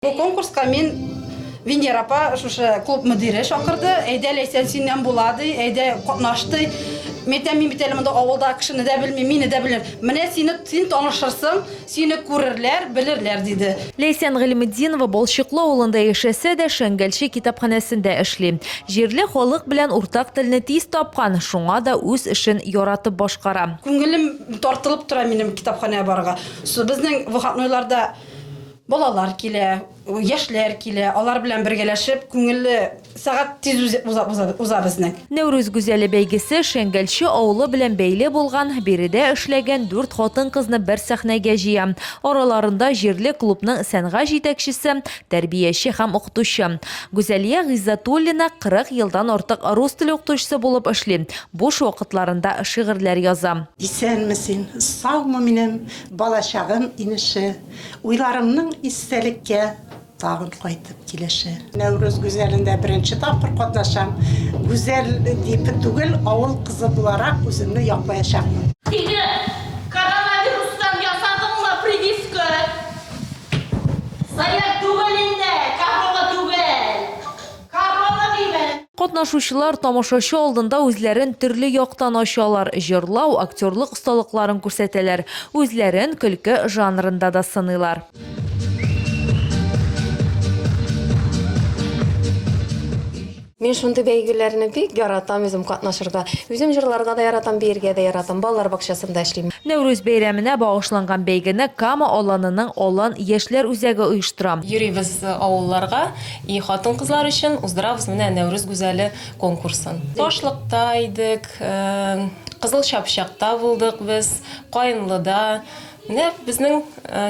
Бу конкурска мин Венера апа шушы клуб мөдире чакырды. Әйдә Ләйсән синнән була ди. Әйдә катнаш ди. Мәйтәм мин бит әле монда авылда кешене дә белмим, мине дә белер. Менә сине син танышырсың, сине күрерләр, белерләр, диде. Ләйсән Гыйльметдинова Балчыклы авылында яшәсә дә, Шәңгәлче китапханәсендә эшли. Җирле халык белән уртак телне тиз тапкан, шуңа да үз эшен яратып башкара. Күңелем тартылып тора минем китапханәгә барырга. Безнең выходнойларда Балалар килә, яшьләр килә, алар белән бергәләшеп, күңелле сәгать тиз уза уза безнең. Нәүрүз гүзәле бәйгесе Шәңгәлче авылы белән бәйле булган, биредә эшләгән дүрт хатын-кызны бер сәхнәгә җыя. Араларында җирле клубның сәнгать җитәкчесе, тәрбияче һәм укытучы. Гүзәлия Гыйззәтуллина 40 елдан артык рус теле укытучысы булып эшли, буш вакытларында шигырьләр яза. Исәнме син, саумы минем балачагым инеше. Уйларымның истәлеккә тагын кайтып килеше. Нәүрүз гүзәлендә беренче тапкыр катнашам. Гүзәл дип түгел, авыл кызы буларак үземне яклаячакмын. Сине коронавирустан ясадыңмы прививка? Заряд түгел инде, корона түгел. Корона диме? Катнашучылар тамашачы алдында үзләрен төрле яктан ачалар, җырлау, актерлык осталыкларын күрсәтәләр, үзләрен көлке жанрында да сыныйлар. Мин шундый бәйгеләрне бик яратам үзем катнашырга. Үзем җырларга да яратам, биергә дә яратам. Балалар бакчасында эшлим. Нәүрүз бәйрәменә багышланган бәйгене Кама Аланының Алан яшьләр үзәге оештыра. Йөрибез авылларга, И хатын-кызлар өчен уздырабыз менә Нәүрүз гүзәле конкурсын. Ташлыкта идек, Кызыл Чапчакта булдык без, Каенлыда. Менә безнең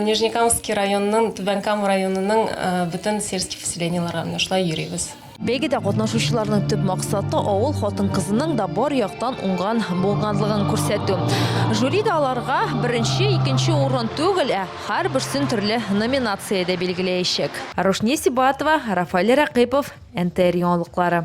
Нижнекамский районының, Түбән Кама районының бөтен сельский поселениеларга менә шулай йөрибез. Бәйгедә катнашучыларның төп максаты, авыл хатын-кызының да бар яктан уңган булганлыгын күрсәтү. Жюри да аларга беренче, икенче урын түгел, ә Һәрберсен төрле номинациядә билгеләячәк. Рушния Сибатова, Рафаэль Рәкыйпов, НТР яңалыклары.